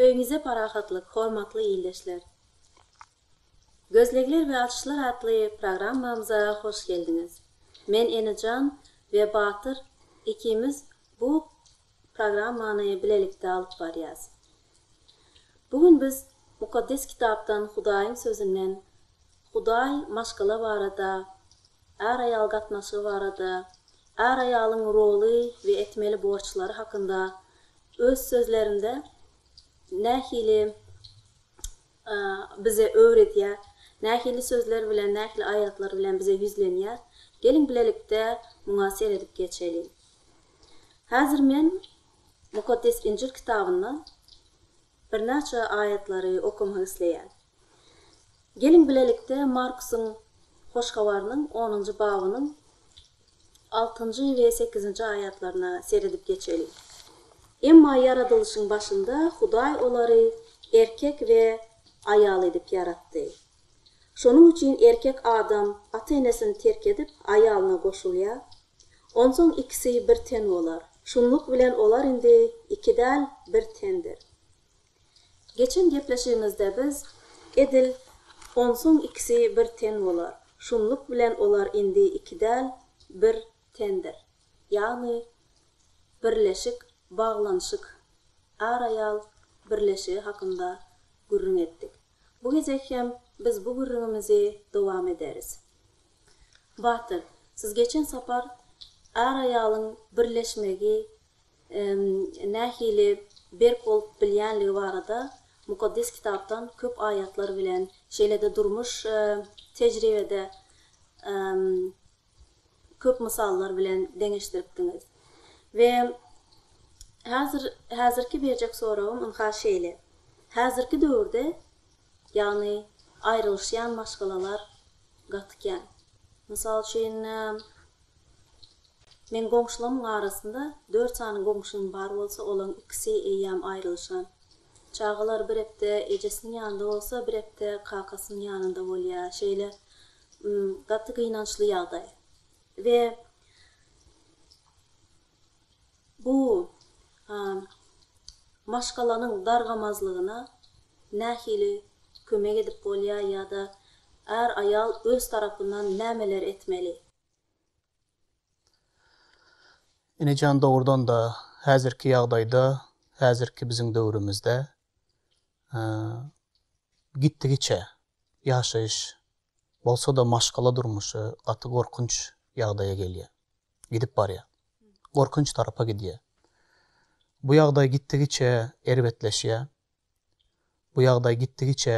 Öýüňize parahatlyk, hormatly ildeşler! Gözlegler we açyşlar atly programmamyza hoş geldiňiz. Men Enejan we Batyr ikimiz bu programmany bilelikde alyp barýas. Bu gün biz Mukaddes Kitapdan Hudaýyň Sözünden Hudaý maşgala barada Är-aýal gatnaşygy barada, är-aýalyň roly we etmeli borçlary hakynda öz sözlerinde nähili bize öwredýär, nähili sözler bilen, nähili aýatlar bilen bize ýüzlenýär? Geliň bilelikde muňa seredip geçeliň. Häzir men Mukaddes Injil kitabyndan Birnäçe aýatlary okamak isleýän. Geliň bilelikde Markusyň Hoş Habarynyň onunjy babynyň altynjy we sekizinji aýatlaryna seredip geçeliň. Emma ýaradylyşyň başynda Hudaý olary erkek we aýal edip ýaratdy. Şonuň üçin erkek adam ata-enesini terk edip, aýalyna goşulýar. Onsoň ikisi bir ten bolar. Şunluk bilen olar indi iki däl, bir tendir. Geçen gepleşigimizde biz edil Onsoň ikisi bir ten bolar. Şunluk bilen olar indi iki däl, bir tendir. Ýagny birleşik, baglanyşyk, ar-aýal birleşigi hakynda gürrüň etdik. Bu gezek hem biz bu gürrüňimizi dowam ederis. Batyr, siz geçen sapar är-aýalyň birleşmegi nähili berk bolup bilýänligi barada Mukaddes Kitapdan köp aýatlar bilen, şeýle-de durmuş tejribede köp mysallar bilen deňeşdiripdiňiz. We häzir häzirki berjek soragym ynha şeýle, häzirki döwürde ýagny aýrylyşýan maşgalalar gaty kän. Mysal üçin meň goňşulamyň arasynda dört sany goňşym bar bolsa olaň ikisi eýýäm aýrylyşan. Çagalar bir epde ejesiniň ýanynda bolsa bir epde kakasynyň ýanynda bolýa şeýle Gaty gynançly ýagdaý we bu maşgalanyň dargamazlygyna nähili kömek edip bolýar ýa-da är aýal öz tarapyndan nämeler etmeli? Enejan dogrudan-da häzirki ýagdaýda, häzirki biziň döwrümizde gitdigiçe ýaşaýyş bolsa-da maşgala durmuşy gaty gorkunç ýagdaýa gelýär, gidip barýar, gorkunç tarapa gidýär. Bu ýagdaý gitdigiçe erbetleşýär, bu ýagdaý gitdigiçe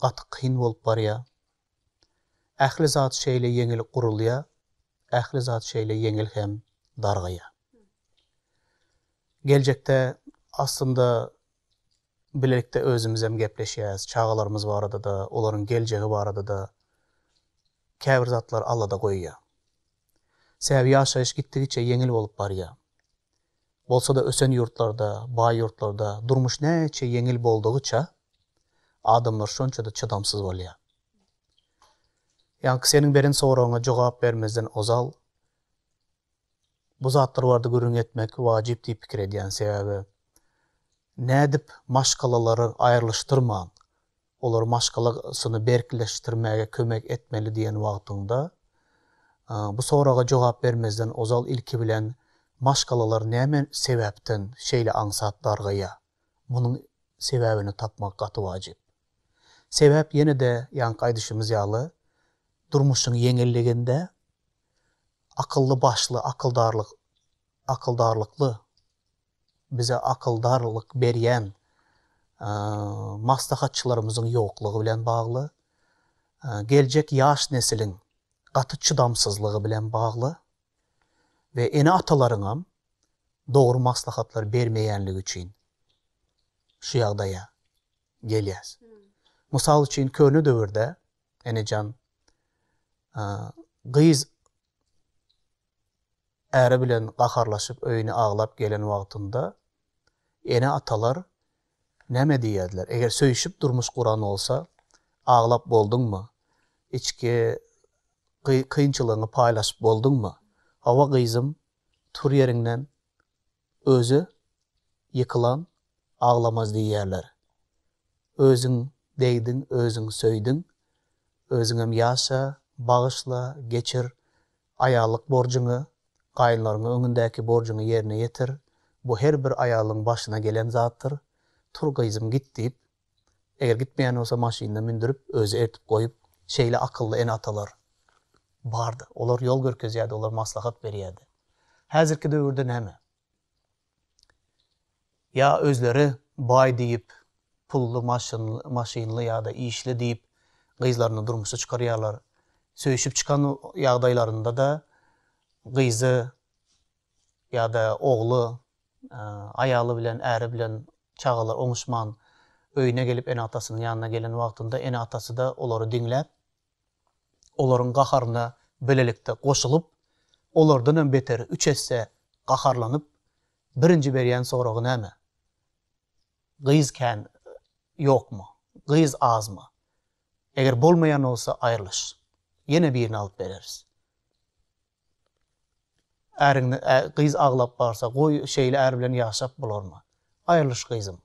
gaty kyn bolup barýar. Ähli zat şeýle ýeňil gurulýar, ähli zat şeýle ýeňil hem dargaýar. Geljekde aslynda bilelikde özümizem gepleşýäs, çagalarymyz barada-da, olaryň geljegi barada-da käbir zatlar Alla-da goýýar. Sebäbi ýaşaýyş gitdigiçe ýeňil bolup barýar. Bolsa-da ösen ýurtlarda, baý ýurtlarda durmuş näçe ýeňil boldugyça, adamlar şonça-da çydamsyz bolýar. Ýaňky seniň beren soragyňa jogap bermezden ozal bu zatlar barada gürrüň etmek wajyp diýip pikir edýän. Sebäbi nädip maşgalalary aýrylyşdyrman Olar maşgalasyny berkleşdirmäge kömek etmeli diýen wagtyňda, bu soraga jogap bermezden ozal ilki bilen maşgalalar näme sebäpden şeýle aňsat dargaýýar? Munuň sebäbini tapmak gaty wajyp. Sebäp ýene-de ýaňky aýdyşymyz ýaly, durmuşyň ýeňilliginde akylly-başly, akyldarlyk, akyldarlykly, bize akyldarlyk berýän maslahatçylarymyzyň ýoklugy bilen bagly, geljek ýaş nesiliň gaty çydamsyzlygy bilen bagly we ene-atalaryňam dogry maslahatlar bermeýänligi üçin şu ýagdaýa gelýäs. Mysal üçin, köne döwürde, enejan, gyz Äri bilen gaharlaşyp öýüne aglap gelen wagtynda ene-atalar näme diýerdiler? Eger söýşüp durmuş guran bolsa, aglap bolduňmy? Içki kynçylygyňy paýlaşyp bolduňmy? Hawa gyzym, tur ýeriňden! Özi ýykylan aglamaz diýýärler. Özüň degdiň, özüň söýdüň, özüňem ýaşa, bagyşla, geçir, aýallyk borjuňy, gaýynlaryňyň öňündäki borjuňy ýerine ýetir, bu her bir aýalyň başyna gelen zatdyr, tur gyzym git diýip, Eger gitmeýän bolsa maşynyna mündürip özi eltip goýup şeýle akylly ene atalar bardy. Olar ýol görkezýärdi olar maslahat berýärdi. Häzirki döwürde näme? Ýa özleri baý diýip pully maşynly ýada işli diýip gyzlaryny durmuşa çykarýarlar. Söýşüp çykan ýagdaýlarynda da gyzy ýa-da ogly aýaly bilen, äri bilen çagalar oňuşman öýüne gelip ene-atasynyň ýanyna gelen wagtynda ene-atasy-da olary diňläp, olaryň gaharyna bilelikde goşulyp, olardan hem beteri üç esse gaharlanyp, birinji berýän soragy näme? Gyz kän ýokmy? Gyz azmy? Eger bolmaýan bolsa aýrylyş. Ýene birini alyp bereris. Äriňde gyz aglap barsa, goý, şeýle är bilen ýaşap bolarmy? Aýrylyş gyzym.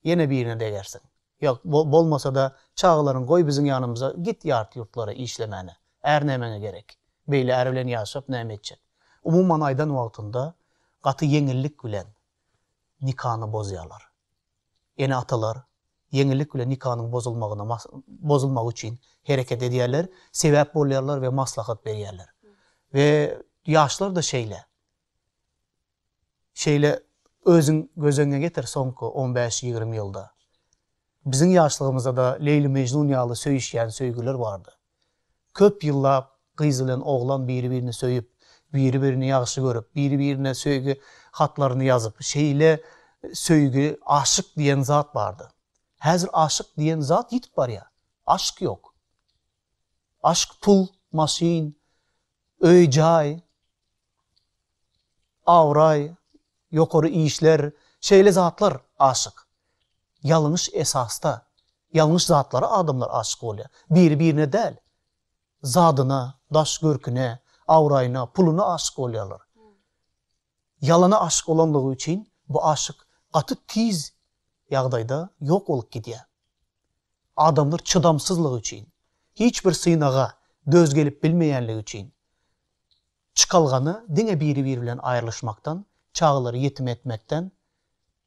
Ýene birine degersiň. Ýok, bolmasa-da, çagalaryňy goý biziň ýanymyza, git ýat ýurtlara işlemäne. Är nämäňe gerek? Beýle är bilen ýaşap näme etjek? Umuman aýdan wagtynda gaty ýeňillik bilen nikany bozýarlar. ene-atalar ýeňillik bilen nikanyň bozulmagyna bozulmagy üçin hereket edýärler, sebäp bolýarlar we maslahat berýärler. We ýaşlar-da şeýle. Şeýle özüň göz öňüňe getir soňky on bäş, ýigrimi ýylda. Biziň ýaşlygymyzda-da Leýli-Mežnun ýaly söýüşýän söýgüler bardy. Köp ýyllap gyz bilen oglan biri-birini söýüp, biri-birini ýagşy görüp, biri-birine söýgi hatlaryny ýazyp, şeýle söýgi, aşyk diýen zat bardy. Häzir aşyk diýen zat ýitip barýar. Aşk ýok. Aşk pul, maşyn, öý-jaý, abraý, ýokary işler, şeýle zatlar aşyk. Ýalňyş esasda, ýalňyş zatlara adamlar aşyk bolýar. Biri-birine däl. Zadyna, daş görküne, abraýyna, puluna aşyk bolýarlar. Ýalana aşyk bolanlygy üçin bu aşyk gaty tiz ýagdaýda ýok bolup gidýär. Adamlar çydamsyzlygy üçin, hiç bir synaga döz gelip bilmeýänligi üçin çykalgany diňe biri-biri bilen aýrylyşmakdan, çagalary ýetim etmekden,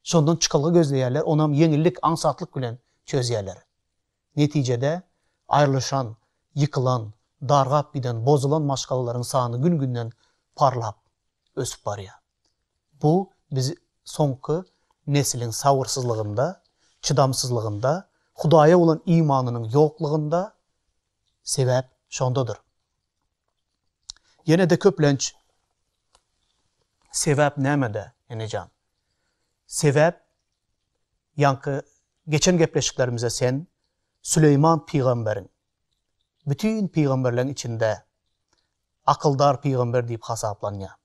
şondan çykalga gözleýärler, onam ýeňillik, aňsatlyk bilen çözýärler. Netijede, aýrylyşan, ýykylan, dargap giden, bozulan maşgalalaryň sany gün-günden parlap, ösüp barýar. Bu biz soňky nesliň sabyrsyzlygynda, çydamsyzlygynda, Hudaýa bolan imanynyň ýoklugynda, sebäp şondadyr. Ýene-de köplenç Sebäp nämede, enejan? Sebäp, ýaňky geçen gepleşiklerimize sen Süleýman pygamberiň, bütin pygamberleň içinde akyldar pygamber diýip hasaplanýar.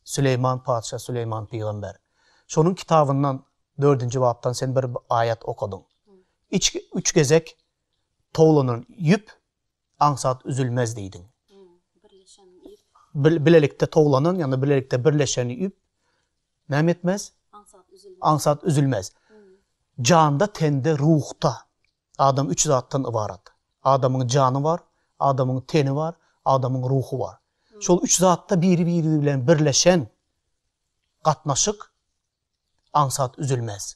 Süleýman patyşa, Süleýman pygamber. Şonuň kitabyndan dördünji bapdan sen bir aýat okadyň. Üç gezek towlanan ýüp aňsat üzülmez diýdiň. Bilelikde towlanan ýa-da bilelikde birleşen ýüp näme etmez? Aňsat üzülmez. Janda, tende, ruhda adam üç zatdan ybarat. Adamyň jany bar, adamyň teni bar, adamyň ruhy bar. Şol üç zatda biri-biri bilen birleşen gatnaşyk aňsat üzülmez.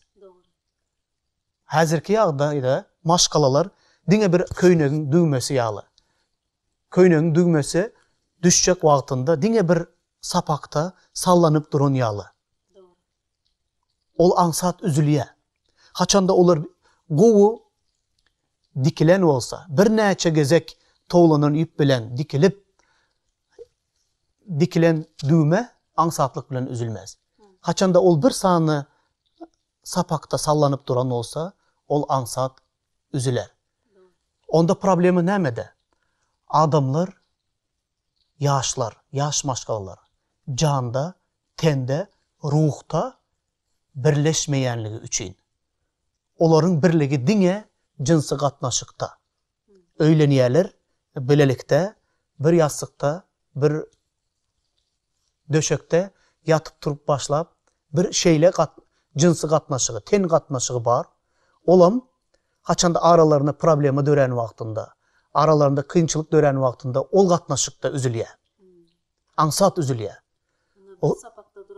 Häzirki ýagdaýda maşgalalar diňe bir köýnegiň düwmesi ýaly. Köýnegiň düwmesi düşjek wagtynda diňe bir sapakda sallanyp duran ýaly. Ol aňsat üzülýär. Haçanda olar gowy dikilen bolsa, birnäçe gezek towlanan ýüp bilen dikilip, dikilen düwme aňsatlyk bilen üzülmez. Haçanda ol bir sany sapakda sallanyp duran bolsa, ol aňsat üzüler. Onda problema nämede? Adamlar, ýaşlar, ýaş maşgalalar janda, tende, ruhda birleşmeýänligi üçin. Olaryň birligi diňe jynsy gatnaşykda. öýlenýärler, bilelikde bir ýassykda, bir döşekde ýatyp-turup başlap, bir şeýle jynsy gatnaşygy, ten gatnaşygy bar. Olam haçanda aralarynda problema dörän wagtynda, aralarynda kynçylyk dörän wagtynda ol gatnaşykda üzülýär. Aňsat üzülýär.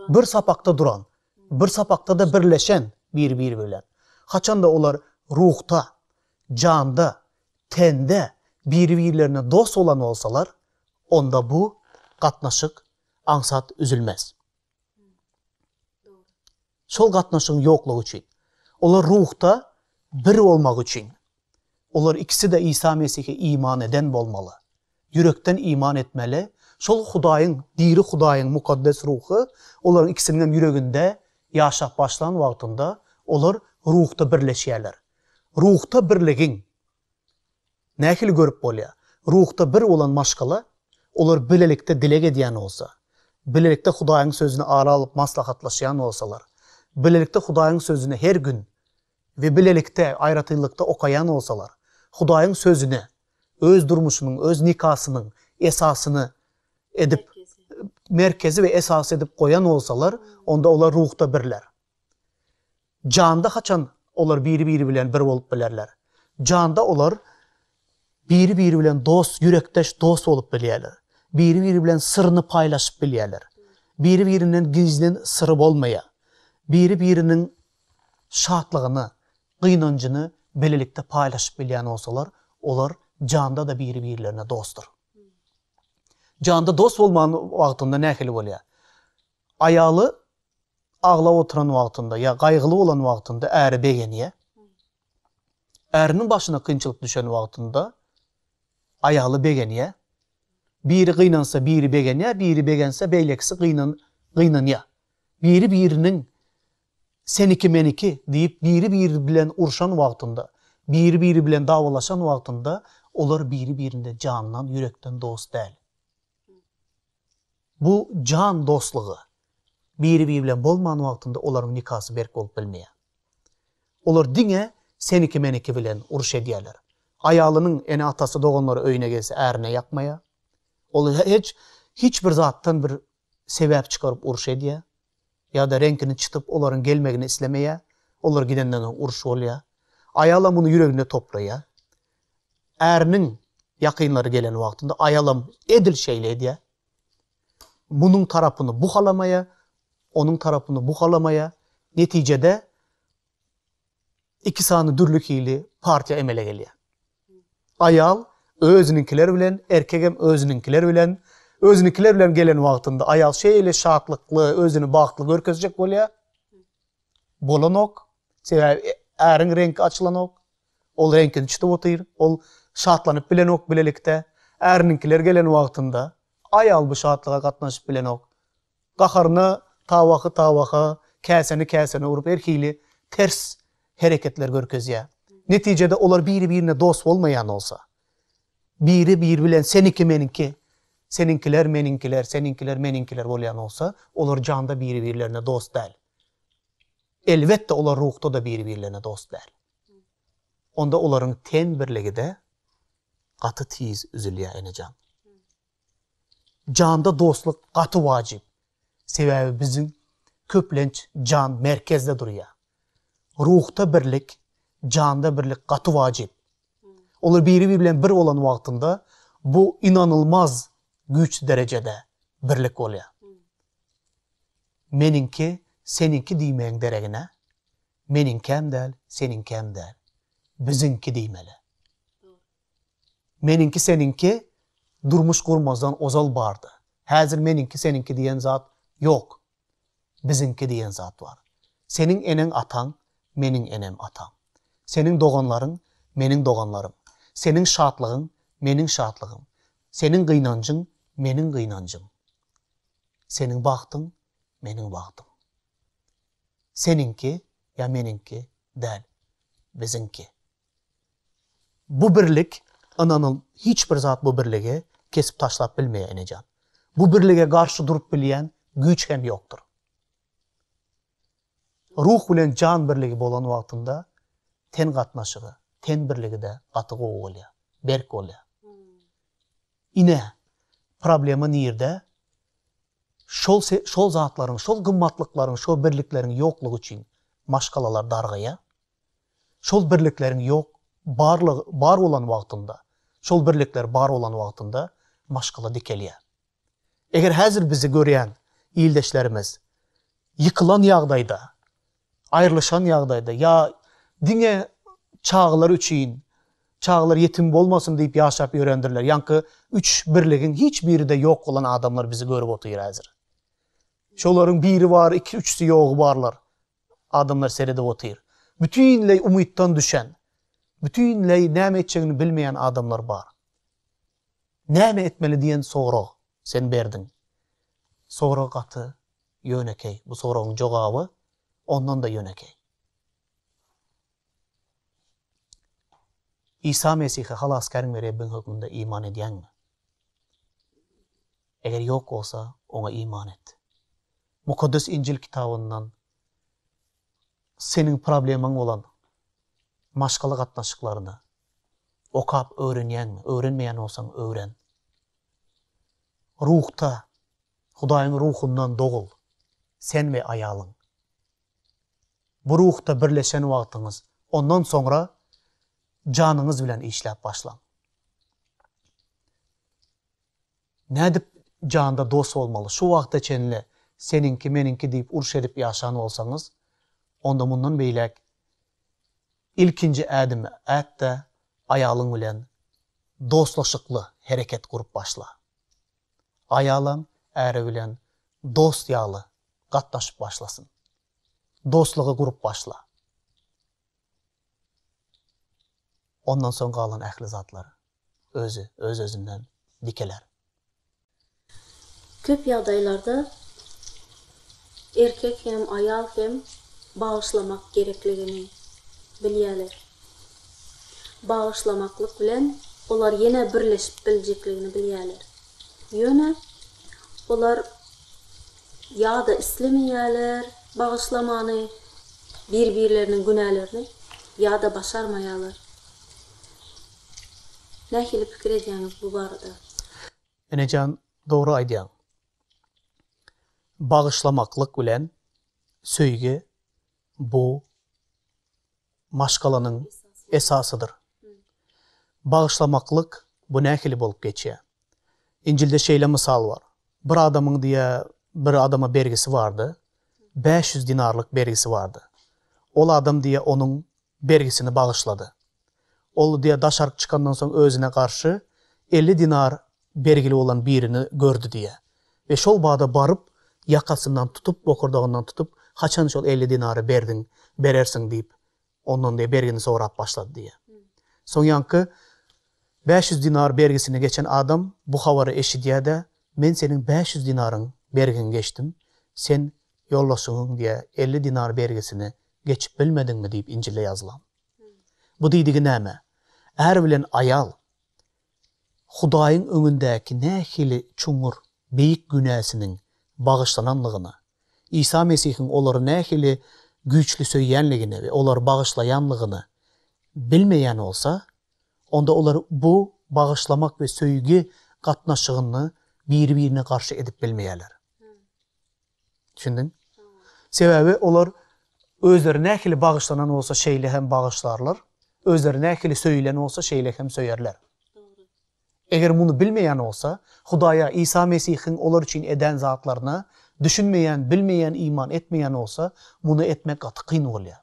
Bir sapakda duran, bir sapakda-da birleşen bir-biri bilen. Haçanda olar ruhda, janda, tende biri-birlerine dost bolan bolsalar, onda bu gatnaşyk aňsat üzülmez. Şol gatnaşygyň ýoklugy üçin, olar ruhda bir bolmagy üçin, olar ikisi-de Isa Mesihe iman eden bolmaly. Ýürekden iman etmeli. Şol Hudaýyň, diri Hudaýyň Mukaddes Ruhy olaryň ikisiniň hem ýüreginde ýaşap başlan wagtynda, olar ruhda birleşýärler. Ruhda birligiň nähili görüp bolýar? Ruhda bir bolan maşgala, olar bilelikde dileg edýän bolsa, bilelikde Hudaýyň Sözüni ara alyp maslahatlaşýan bolsalar, bilelikde Hudaýyň Sözüni her gün we bilelikde aýratynlykda okaýan bolsalar, Hudaýyň Sözüne öz durmuşynyň, öz nikasynyň esasyny edip, merkezi we esasy edip goýan bolsalar, onda olar ruhda birler. Janda haçan olar biri-biri bilen bir bolup bilerler? Janda olar biri-biri bilen dost, ýürekdeş dost bolup bilýärler. Biri-biri bilen syryny paýlaşyp bilýärler. Biri-birinden gizlin syry bolmaýar. Biri-biriniň şatlygyny, gynanjyny bilelikde paýlaşyp bilýän bolsalar, olar janda-da biri-birlerine dostdur. Janda dost bolman wagtynda nähili bolýar? Aýaly aglap oturan wagtynda ýa gaýgyly bolan wagtynda äri begenýär. Äriniň başyna kynçylyk düşen wagtynda aýaly begenýär. Biri gynansa biri begenýär, biri begense beýlekisi gynan gynanýar. Biri-biriniň Seniki-meniki diýip biri-biri bilen urşan wagtynda, biri-biri bilen dawalaşan wagtynda olar biri-birine jandan, ýürekden dost däl. Bu jan dostlugy biri-biri bilen bolman wagtynda olaryň nikasy berk bolup bilmeýär. Olar diňe seniki-meniki bilen uruş edýärler. Aýalynyň ene-atasy, doganlary öýüne gelse ärine ýakmaýar. Ol hiç bir zatdan bir sebäp çykaryp uruş edýär. Ýa-da reňkini çytyp, olaryň gelmegini islemeýär. Olar gidenden soň uruş bolýar. Aýalam muny ýüregine toplaýar. Äriniň ýakynlary gelen wagtynda aýalam edil şeýle edýär. Munuň tarapyny bu halamaýar, onuň tarapyny bu halamaýar. Netijede Iki sany dürli hili partiýa emele gelýär. Aýal özüniňkiler bilen, erkegem özüniňkiler bilen. Özüniňkiler bilen gelen wagtynda aýal şeýle şatlykly, özüni bagtly görkezjek bolýar. Bolanok. Sebäbi äriň reňki açylanok. Ol reňkini çytyp otyr. Ol şatlanyp bilenok bilelikde. Äriniňkiler gelen wagtynda aýal bu şatlyga gatnaşyp bilenok. Gaharyna tabaky tabaka, käseni käsene urup her hili ters hereketler görkezýär. Netijede olar biri-birine dost bolmaýan bolsa, biri biri bilen seniki meniňki, seniňkiler meniňkiler, seniňkiler meniňkiler bolýan bolsa, olar janda biri-birlerine dost däl. Elbetde olar ruhda-da biri-birlerine dost däl. Onda olaryň ten birligi-de gaty tiz üzülýär enejan. Janda dostluk gaty wajyp. Sebäbi biziň köplenç jan merkezde durýar. Ruhda birlik, janda birlik gaty wajyp. Olar biri-biri bilen bir bolan wagtynda bu ynanylmaz güýçli derejede birlik bolýar. Meniňki, seniňki diýmegiň deregine, meniňkäm däl, seniňkäm däl, biziňki diýmeli. Meniňki seniňki durmuş gurmazdan ozal bardy. Häzir meniňki seniňki diýen zat ýok. Biziňki diýen zat bar. Seniň eneň ataň, meniň enem atam. Seniň doganlaryň, meniň doganlarym. Seniň şatlygyň, meniň şatlygym. Seniň gynanjyň, meniň gynanjym. Seniň bagtyň, meniň bagtym. Seniňki ýa meniňki däl, biziňki. Bu birlik, ynanyň, hiç bir zat bu birligi kesip taşlap bilmeýär, enejan. Bu birlige garşy durup bilýän güýç hem ýokdur. Ruh bilen jan birligi bolan wagtynda ten gatnaşygy, ten birligi-de gaty gowy bolýar, berk bolýar. Ine, problema nirde? Şol şol zatlaryň, şol gymmatlyklaryň, şo birlikleriň ýoklugy üçin maşgalalar dargaýar. Şol birlikleriň ýok, barlygy, bar bolan wagtynda, şol birlikler bar bolan wagtynda maşgala dikelýär. Eger häzir bizi görýän ildeşlerimiz ýykylan ýagdaýda, aýrylyşan ýagdaýda ýa diňe çagalar üçin, çagalar ýetim bolmasyn diýip ýaşap ýörendirler, ýaňky üç birligiň hiç biri-de ýok bolan adamlar bizi görüp otyr häzir. Şolaryň biri bar, iki-üçüsi ýogy barlar. adamlar seredip otyr. Bütinleý umytdan düşen, bütinleý näme etjegini bilmeýän adamlar bar. Näme etmeli diýen sorag sen berdiň. Sorag gaty ýönekeý. Bu soragyň jogaby ondan-da ýönekeý. Isa Mesihe Halasgäriň we Rebbiň hökmünde iman edýäňmi? Eger ýok bolsa, oňa iman et. Mukaddes Injil kitabyndan seniň problemaň bolan maşgala gatnaşyklaryny okap öwrenýäňmi? Öwrenmeýän bolsaň, öwren. Ruhda, Hudaýyň Ruhundan dogul, sen we aýalyň. Bu Ruhda birleşen wagtyňyz, ondan soňra janyňyz bilen işläp başlaň. Nädip janda dost bolmaly? Şu wagta çenli seniňki, meniňki diýip uruş edip ýaşan bolsaňyz, onda mundan beýläk ilkinji ädimi at-da, aýalyň bilen dostlaşykly hereket gurup başla. Aýalam äri bilen dost ýaly gatnaşyp başlasyn. Dostlugy gurup başla. Ondan soň galan ähli zatlary. özi öz-özünden dikeler. Köp ýagdaýlarda erkek hem, aýal hem bagyşlamak gerekligini bilýärler. Bagyşlamaklyk bilen olar ýene birleşip biljekligini bilýärler. Ýöne olar ýa-da islemeýärler bagyşlamany, bir-birleriniň günälerini, ýa-da başarmaýarlar. Nähili pikir edýäňiz bu barada? Enejan dogry aýdýaň. Bagyşlamaklyk bilen söýgi bu maşgalanyň esasydyr. Bagyşlamaklyk bu nähili bolup geçýär? Injilde şeýle mysal bar. Bir adamyň diýä bir adama bergisi bardy. Bäş ýüz dinarlyk bergisi bardy. Ol adam diýä onuň bergisini bagyşlady. Ol diýýär, daşaryk çykandan soň özüne garşy elli dinar bergili bolan birini gördi diýýär we şol bada baryp, ýakasyndan tutup, bokurdagyndan tutup, Haçan şol elli dinary berdiň, berersiň diýip, ondan diýýär, bergini sorap başlady diýýär. Soňňanky bäş ýüz dinar bergisini geçen adam bu habary eşidýär-de, Men seniň bäş ýüz dinaryň bergiňi geçdim, sen ýoldaşyňyň diýýär, elli dinar bergisini geçip bilmediňmi diýip Injilde ýazylan. Bu diýdigi näme? Är bilen aýal Hudaýyň öňündäki nähili çuňňur, beýik günäsiniň bagyşlananlygyna, Isa Mesihiň olary nähili güýçli söýýänligine we olary bagyşlaýanlygyna bilmeýän bolsa, onda olar bu bagyşlamak we söýgi gatnaşygyny biri-birine garşy edip bilmeýärler. Düşündiňmi? Sebäbi olar özleri nähili bagyşlanan bolsa şeýle hem bagyşlarlar, özleri nähili söýülen bolsa şeýle hem söýerler. Eger muny bilmeýän bolsa, Hudaýa, Isa Mesihiň olar üçin eden zatlaryna düşünmeýän, bilmeýän, iman etmeýän bolsa, muny etmek gaty kyn bolýar.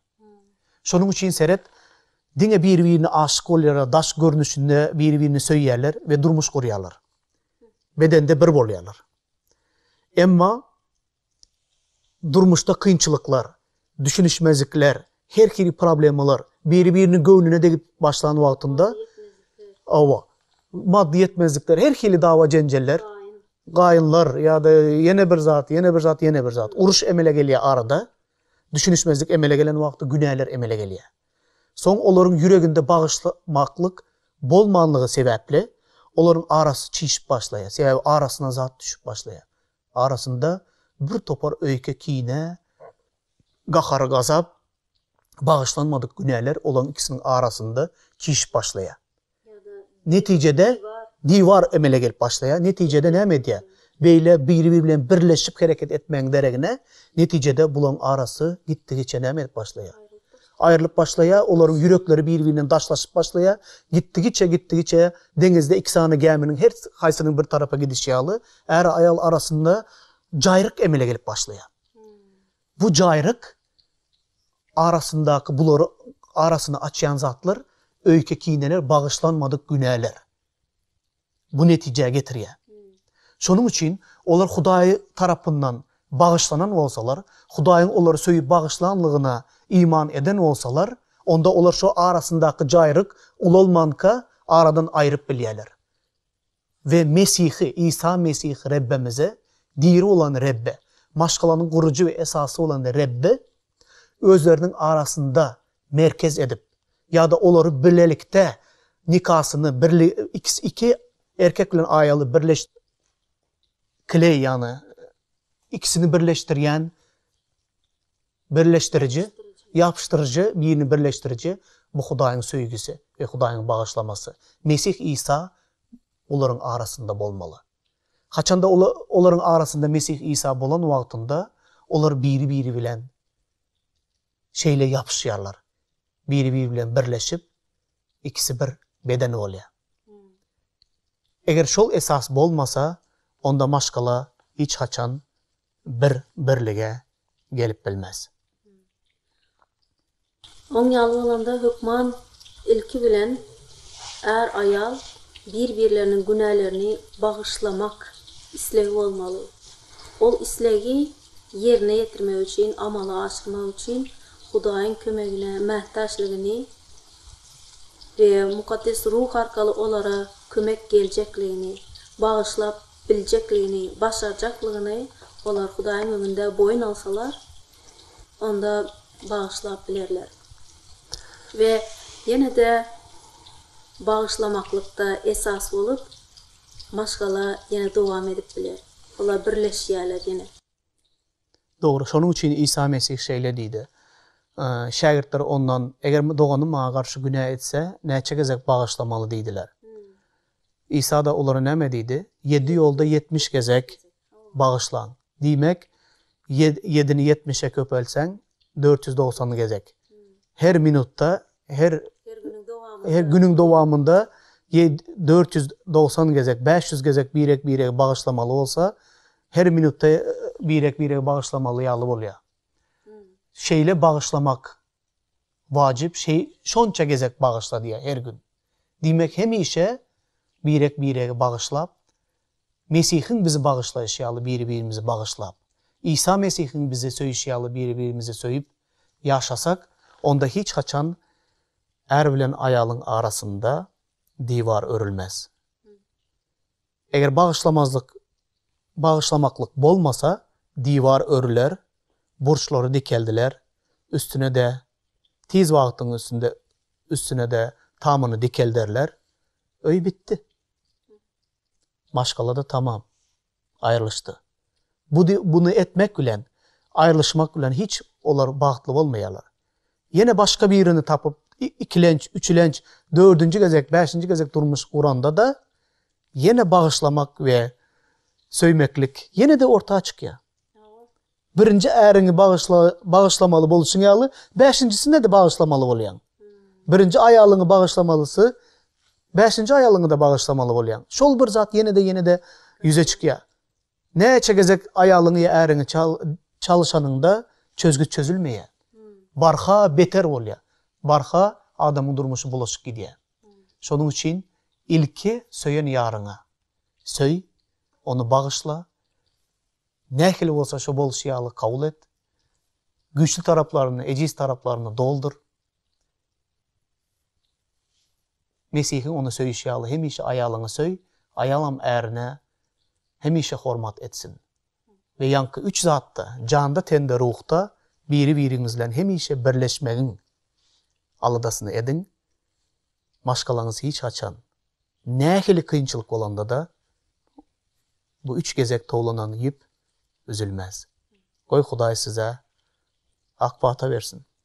Şonuň üçin seret, diňe biri-birine aşyk bolýarlar, daş görnüşinde biri-birini söýýärler we durmuş gurýarlar. bedende bir bolýarlar. Emma durmuşda kynçylyklar, düşünişmezlikler, her hili problemalar biri-biriniň göwnüne degip başlan wagtynda awa maddy ýetmezlikler, her hili dawa-jenjeller, gaýynlar ýa-da ýene bir zat, ýene bir zat, ýene bir zat, uruş emele gelýär arada. Düşünişmezlik emele gelen wagty günäler emele gelýär. Soň olaryň ýüreginde bagyşlamaklyk bolmanlygy sebäpli, olaryň arasy çişip başlaýar, sebäbi arasyna zat düşüp başlaýar. Arasynda birtopar öýke, kine, gahar-gazap, bagyşlanmadyk günäler olaryň ikisiniň arasynda çişip başlaýar. Netijede diwar emele gelip başlaýar. Netijede näme edýär? Beýle biri-biri bilen birleşip hereket etmegiň deregine, netijede bularyň arasy gitdigiçe näme edip başlaýar? Aýrylyp başlaýar, olaryň ýürekleri biri-birinden daşlaşyp başlaýar. Gitdigiçe, gitdigiçe deňizde iki sany gäminiň her haýsynyň bir tarapa gidişi ýaly, är-aýal arasynda jaýryk emele gelip başlaýar. Bu jaýryk arasyndaky bulary arasyny açýan zatlar, öýke kineler, bagyşlanmadyk günäler bu netijä getirýär. Şonuň üçin olar Hudaý tarapyndan bagyşlanan bolsalar, Hudaýyň olary söýüp bagyşlanlygyna iman eden bolsalar, onda olar şo arasyndaky jaýryk ulalmanka aradan aýryp bilýärler. we Mesihi, Isa Mesihi Rebbimize, diri bolan Rebbe, maşgalanyň gurujy we esasy bolan Rebbe özleriniň arasynda merkez edip, ýa-da olary bilelikde nikasyny, birli, ikisi, iki erkek bilen aýaly birleş, klei, ýagny ikisini birleşdirýän Birleşdiriji, ýapyşdyryjy, birini birleşdiriji, bu Hudaýyň söýgüsi we Hudaýyň bagyşlamasy, Mesih Isa olaryň arasynda bolmaly. Haçanda olar olaryň arasynda Mesih Isa bolan wagtynda, olar biri-biri bilen şeýle ýapyşýarlar, biri-biri bilen birleşip, ikisi bir beden bolýar. Eger şol esas bolmasa, onda maşgala hiç haçan bir birlige gelip bilmez. Oň ýaly bolanda hökman ilki bilen är aýal bir birleriniň günälerini bagyşlamak islegi bolmaly. Ol islegi ýerine ýetirmek üçin, amala aşyrmak üçin Hudaýyň kömegine mätäçligini we Mukaddes Ruh arkaly olara kömek geljekligini, bagyşlap biljekligini, başarjaklygyny olar Hudaýyň öňünde boýun alsalar, onda bagyşlap bilerler. We ýene-de bagyşlamaklykda esas bolup, maşgala ýene dowam edip biler. Olar birleşýärler ýene. Dogry, şonuň üçin Isa Mesih şeýle diýdi. Şägirtler Ondan, Eger doganym maňa garşy günä etse, näçe gezek bagyşlamaly? diýdiler. Isa-da olara näme diýdi? Ýedi ýolda ýetmiş gezek bagyşlaň. Diýmek, ýedini ýetmişe köpeltseň, dört ýüz dogsan gezek. Her minutda, her günüň dowamynda dört ýüz dogsan gezek, bäş ýüz gezek birek-birege bagyşlamaly bolsa, Her minutda birek-birege bagyşlamaly ýaly bolýar. Şeýle bagyşlamak wajyp, şonça gezek bagyşla diýýär her gün. Diýmek, hemişe birek-birege bagyşlap, Mesihiň bizi bagyşlaýşy ýaly biri-birimizi bagyşlap, Isa Mesihiň bizi söýüşi ýaly biri-birimizi söýüp ýaşasak, onda hiç haçan är bilen aýalyň arasynda diwar örülmez. Eger bagyşlamazlyk, bagyşlamaklyk bolmasa, diwar örüler, burçlary dikeldiler, üstüne-de, tiz wagtyň üstünde üstüne-de tamyny dikelderler, öý bitdi. Maşgala-da tamam, aýrylyşdy. Budy buny etmek bilen, aýrylyşmak bilen hiç olar bagtly bolmaýarlar. Ýene başga birini tapyp, ikilenç, üçülenç, dördünji gezek, bäşinji gezek durmuş guranda-da, ýene bagyşlamak we söýmeklik ýene-de orta çykýar. Birinji äriňi bagyşla bagyşlamaly bolşuň ýaly, bäşinjisini-de bagyşlamaly bolýaň. Birinji aýalyňy bagyşlamalysy, bäşinji aýalyňy-da bagyşlamaly bolýaň. Şol bir zat ýene-de ýene-de ýüze çykýar. Näçe gezek aýalyňy ýa äriňi çalyşanyňda çözgüt çözülmeýär. Barha beter bolýar. Barha adamyň durmuşy bulaşyp gidýär. Şonuň üçin ilki söýen ýaryňa söý, ony bagyşla, nähili bolsa şo bolşy ýaly kabul et, güýçli taraplaryny, ejiz taraplaryny doldur, Mesihiň ony söýüşi ýaly, hemişe aýalyňy söý, aýalam ärine hemişe hormat etsin. We ýaňky üç zatda, janda, tende, ruhda biri-biriňiz bilen hemişe birleşmegiň aladasyny ediň. Maşgalaňyz hiç haçan, nähili kynçylyk bolanda-da, bu üç gezek towlanan ýüp üzülmez. Goý, Hudaý size ak pata bersin!